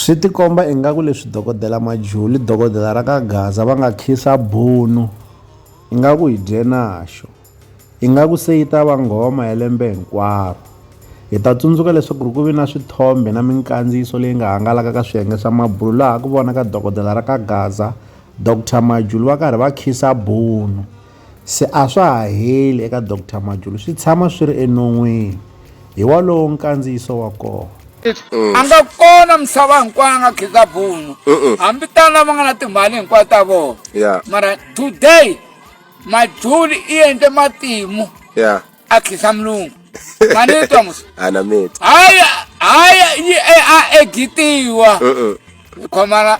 Swi tikomba ingaku leswi dokodela Majuli, dokodela ra ka Gaza va nga khisa bunu ingaku hi dye naxo. Ingaku se yi ta va nghoma ya lembe hinkwaro. Hi ta tsundzuka leswaku ku vi na swithombe na minkandziyiso leyi nga hangalaka ka swiyenge swa mabulo laha ku vonaka dokodela ra ka Gaza, Doctor Majuli va karhi va khisa bunu. se a swa ha heli eka Doctor Majulu swi tshama swi ri enon'wini, hi walowo nkandziyiso wa kona. A nga kona misava hinkwayo a nga khika bunu hambi tano lava nga na timali hinkwayo ta vona yeah. mara today majuli i endle matimu yeah. a khisa mulungu manitwa musa haya haya yi a egitiwa khomana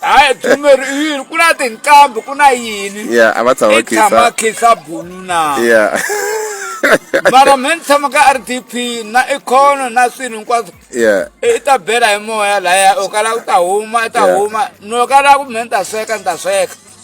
hayi drumeri i yini ku na tinqambi ku na yini ya a va tshama i tshama khisa khisa bulu na ya mara me ni tshama ka r d p na ikhono na swilo hinkwaswo ya i ta bela hi moya laya u kala u ta huma i ta Yeah. huma no kala ku me ni ta sweka ni ta sweka